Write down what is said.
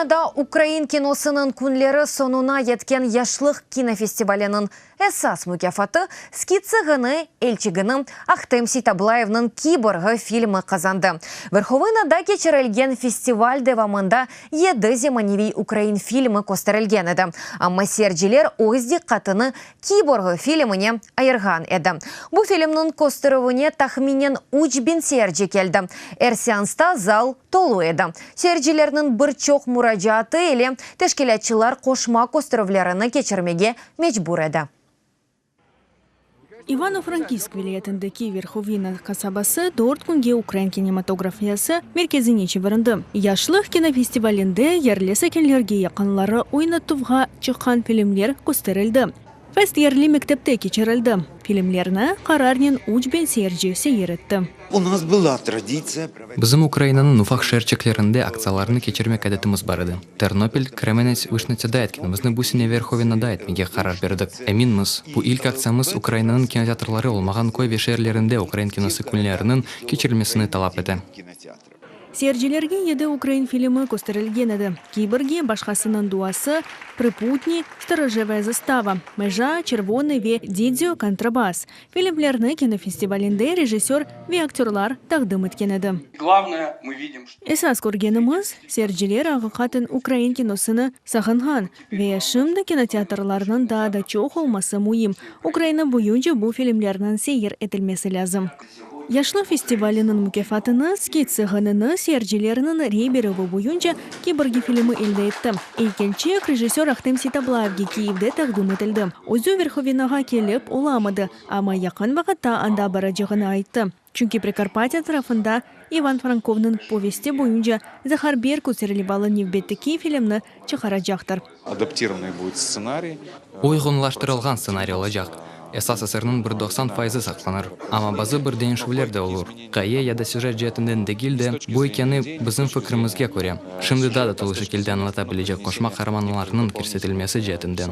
Verhovnada ukrain kinosınıñ künleri soñuna yetken Yaşlıq kinofestivaliniñ esas mukâfatı, Skitsı ğını elçigini, Ahtem Seytablayevniñ Kiborgı filmi qazandı. Verhovnada keçirilgen festival devamında yedi zemaneviy ukrain filmi kösterilgen edi, amma seyirciler öz diqqatını Kiborgı filmine ayırğan edi. Bu filmniñ kösterüvine tahminen üç biñ seyirci keldi. Er seansta zal tolu edi. Seyircilerniñ bir çoq muracaatı ile teşkilâtçılar qoşma kösterüvlerini keçirmege mecbur edi. İvano-Frankivsk vilâyetindeki Verhovina qasabası dört künge ukrain kinematografiyası merkezine çevirildi. Yaşlıq kinofestivalinde yerli sakinlerge yaqınları oynatuvğa Çıqqan filmler kösterildi. Fest yerli mektepte keçirildi. Filmlerni qararnen üç biñ seyirci seyir etti. Bizim Ukrainanıñ ufaq şeerçeklerinde aktsiyalarnı keçirmek adetimiz bar edi. Ternopil, Kremenets, Vişnitsada etkenimizni bu sene Verhovenada etmege qarar berdik. Eminmiz, bu ilk aktsiyamız Ukrainanıñ kinoteatrları olmağan köy ve şeerlerinde Ukrain kinosı künleriniñ keçirilmesini talap ete. Seyircilerge yedi ukrain filmi kösterilgen edi, Kiborgi, Başqasınıñ duası, Priputniy, Storojevaya zastava, Meja, Çervonıy ve Didio, Kontrabas, filmlerni kinofestivalinde rejissör ve aktyorlar taqdim etken edi. Esas körgenimiz, seyirciler aqiqaten ukrain kinosını sağınğan ve şimdi kinoteatrlarnıñ daa da çoq olması müim, Ukraina boyunca bu filmlerniñ seyir etilmesi lâzim. Yaşlar festivaliniñ mukâfatını Skitsi ğınını seyircileriniñ rey berüvi boyunca Kiborgi filmi elde etti. İlk elçiyek rejissör Ahtem Seytablaevge Kiyevde taqdim etildi. Özü Verhovenoğa kelip olamadı, amma yaqın vaqıtta anda baracağını ayttı, çünki Prekarpatiya tarafında İvan Frankovnıñ povesti boyunca Zahar Berkut serlivalı nevbetteki filmni çıqaracaqtır. Uyğunlaştırılğan stsenariy olacaq. Esas eserniñ bir doqsan fayızı saqlanır, amma bazı bir deñişüvler de olur, qaye ya da süjet ceetinden degil de, bu ekeni, bizim fikrimizge köre, şimdi daa da tolu şekilde añlata bilecek qoşma qaramanlarnıñ kirsetilmesi ceetinden.